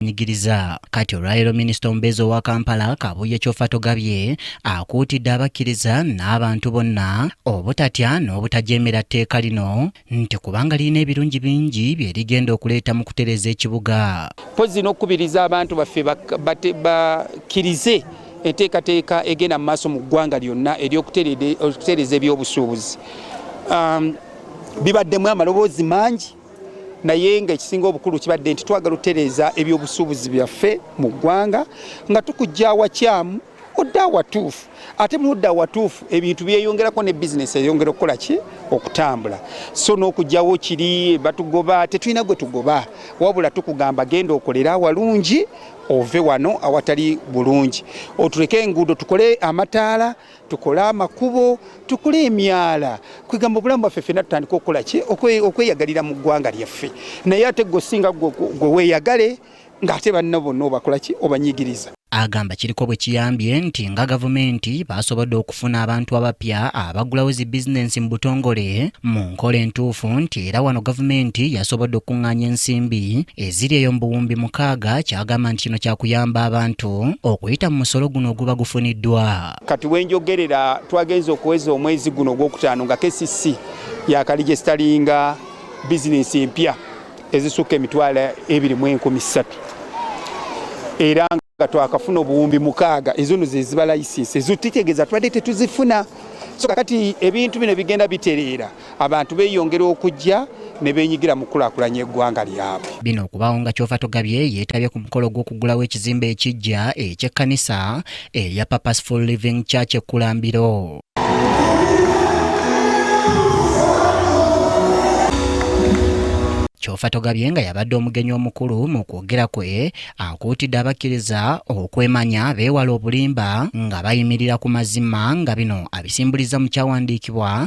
bwenyigiriza kati olwaleero minisita omubeezi owa kampala kabuye kyofa togabye akuutidde abakkiriza n'abantu bonna obutatya n'obutajeemera tteeka lino nti kubanga lirina ebirungi bingi bye rigenda okuleeta mu kutereeza ekibuga mpozi n'okukubiriza abantu baffe bakkirize enteekateeka egenda mu maaso mu ggwanga lyonna ery'okutereeza ebyobusuubuzi um, bibaddemu amaloboozi mangi naye nga ekisinga obukulu kibadde nti twagala otereeza ebyobusuubuzi byaffe mu ggwanga nga tukujja awakyamu odde awatuufu ate muludde awatuufu ebintu byeyongerako ne bizinesi eyongera okukola ki okutambula so n'okugyawo kiri batugoba tetulina gwe tugoba wabula tukugamba genda okolere awalungi ove wano awatali bulungi otuleke enguudo tukole amataala tukole amakubo tukole emyala kwegamba obulamu bwaffe fena tutandika okukola ki okweyagalira mu ggwanga lyaffe naye ate gwe osinga gwe weyagale ng'ate banna bonna obakola ki obanyigiriza agamba kiriko bwe kiyambye nti nga gavumenti baasobodde okufuna abantu abapya abaggulawo zi bizinensi mu butongole mu nkola entuufu nti era wano gavumenti yasobodde okukuŋŋaanya ensimbi eziri eyo mu buwumbi mukaaga kyagamba nti kino kyakuyamba abantu okuyita mu musolo guno oguba gufuniddwa Kati wenjogerera twagenze okuweza omwezi guno ogwokutaano nga KCC yakalijesitalinga bizinensi empya ezisukka emitwalo ebiri mu enkumi ssatu era nga twakafuna obuwumbi mukaaga ezono zeziba layisinsi ezotitegeeza tubadde tetuzifuna so kakati ebintu bino bigenda bitereera abantu beyongera okujja ne benyigira mu kulakulanya eggwanga lyabwe. Bino okubawo nga kyova togabye yetabye ku mukolo gw'okugulawo ekizimbe ekijja eky'ekkanisa eya Purposeful Living Church ekkulambiro. kyofa togabye nga yabadde omugenyi omukulu mu kwogera kwe akuutidde abakkiriza okwemanya beewala obulimba nga bayimirira ku mazima nga bino abisimbuliza mu kyawandiikibwa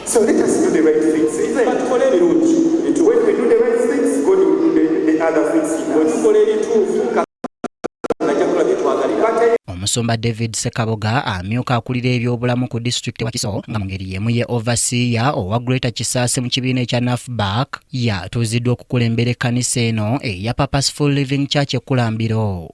So let us do the right things. Batukole ebirungi. When we do the right things, God will do the, the other things. Batukole ebituufu. omusumba david sekaboga amyuka akulira ebyobulamu ku disitulikiti wa kiso nga mu ngeri y'emu ye ovasiya owa greater kisaasi mu kibiina ekya nafback yatuuziddwa okukulembera ekkanisa eno eya purposeful living church ekkulambiro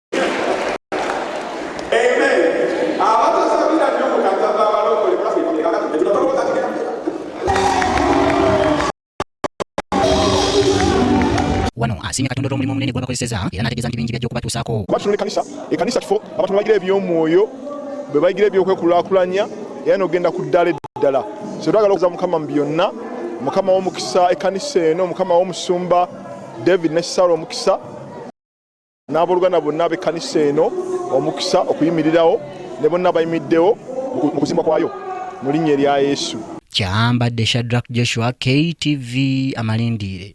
wano asiimye katonda olw'omulimu omunene gwabakozeseza era n'ategeeza nti bingi byajja okubatuusaako kuba kino ekanisa ekanisa kifo abantu bayigira eby'omwoyo bwe bayigira ebyokwekulaakulanya era n'ogenda ku ddala eddala so twagala okuza mukama mu byonna mukama w'omukisa ekanisa eno mukama w'omusumba david ne sara omukisa n'abooluganda bonna ab'ekkanisa eno omukisa okuyimirirawo ne bonna abayimiddewo mu kuzimbwa kwayo mu linnya erya yesu kyambadde shadrak joshua ktv amalindiire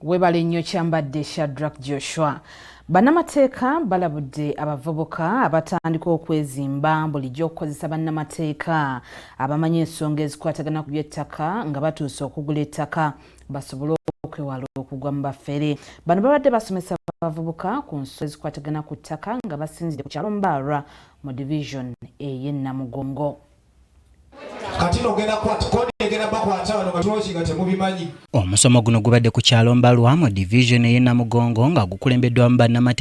webale nnyo kyambadde shadrak joshua bannamateeka balabudde abavubuka abatandika okwezimba bulijjo okukozesa bannamateeka abamanyi ensonga ezikwatagana ku byettaka nga batuuse okugula ettaka basobole okwewala okugwa mu bafere bano babadde basomesa abavubuka ku nsonga ezikwatagana ku ttaka nga basinzidde ku kyalo mbaarwa mu division eye namugongo omusomo guno gubadde ku kyalo mbalwa mu division eye namugongo nga gukulembeddwamu bannamate